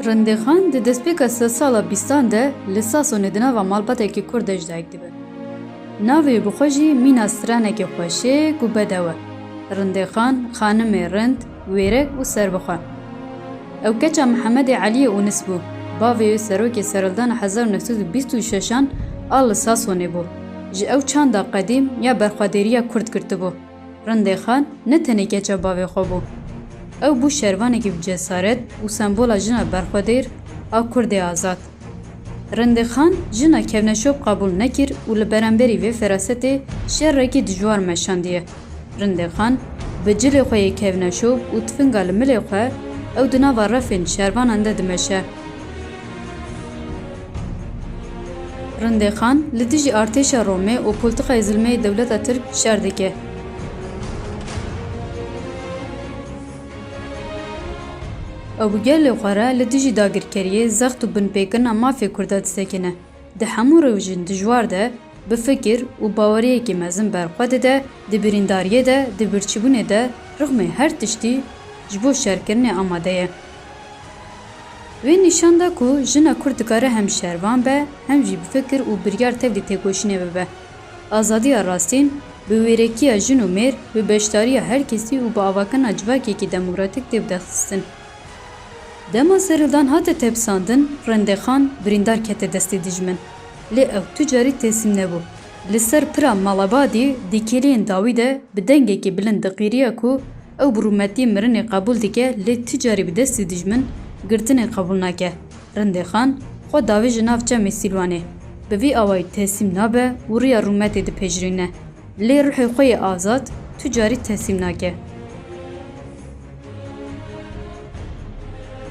Rindexan di destpêka sed sala bîstan de li Sasonê di nava malbatekî Kurd de ji dayik dibe. Navê bi xwe jî mîna stranekê xweşik û bedew e. Rindexan, xanimê rind, wêrek û serbixwe. Ew keça Mihemedê Eliyê Unis bû. Bavê wê serokê serildana hezar û neh sed û bîst û şeş an a li Sasonê bû. Ji ew çanda qedîm ya berxwedêriya Kurd girtibû. Rindê Xan ne tenê keça bavê xwe bû. Ew bû şervanekî bi cesaret û sembola jina berxwedêr a Kurdê azad. Rindê Xan jina kevneşop qebûl nekir û li beremberî vê ferasetê şerekî dijwar meşandiye. Rindê Xan bi cilê xwe yê kevneşop û tifinga li milê xwe ew di nava refên şervanan de dimeşe. Rindê Xan li dijî artêşa Romê û poltikayê zilmeyê dewleta Tirk şer dike. Ew bi gelê xwe re li dijî dagirkeriyê, zext û binpêkirina mafê Kurda disekine. Di hemû rewjên dijwar de, Bi fikir û baweriyekî mezin ber xwe dide, di birîndariyê de, di birçîbûnê de, rixmê her tiştî ji bo şerkirinê amade ye. Wê nîşan da ku jina kurd dikare hem şervan be, hem jî bi fikir û biryar tevlî têkoşînê bibe. Azadiya rastîn, bi wêrekiya jin û mêr, bi beşdariya her kesî û bi avakirina civakekî demokratîk tê bidexistin. Dema serildan hate tepsandin, Rendexan birîndar kete destê dijmin. Lê ew tu carî teslim nebû. Li ser pira Malabadî di kêliyên dawî de bi dengekî bilind diqîriya ku ew bi rûmetî mirinê qebûl dike lê tu carî bi destê dijmin girtinê qebûl nake. Rendexan xwe davêje nav çemê Sîlwanê. Bi vî awayî teslim nabe û riya rûmetê dipejirîne. Lê ruhê xwe yê azad tu carî teslîm nake.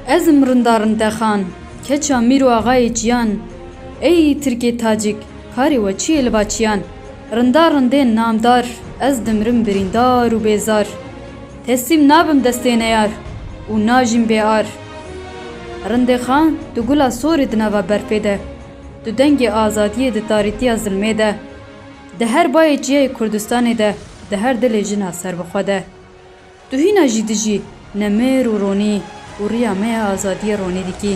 Ez im Rinda Rintexan, keça mîr û axayê çiyan. Ey Tirkê Tacik, karê we çi yê li ba çiyan? Rinda rindên namdar, ez dimirim birîndar û bêzar. Teslîm nabim destê neyar û najîm bê ar. Rindê Xan du gula sorê di nava berfê de, du dengê azadiyê di tarîtiya zilmê de. Di her bayê çiyayê Kurdistanê de, di her dilê jina serbixwe de. Tu hîna jî dijî ne mêr û ronî û riya me ya azadiyê ronî dikî.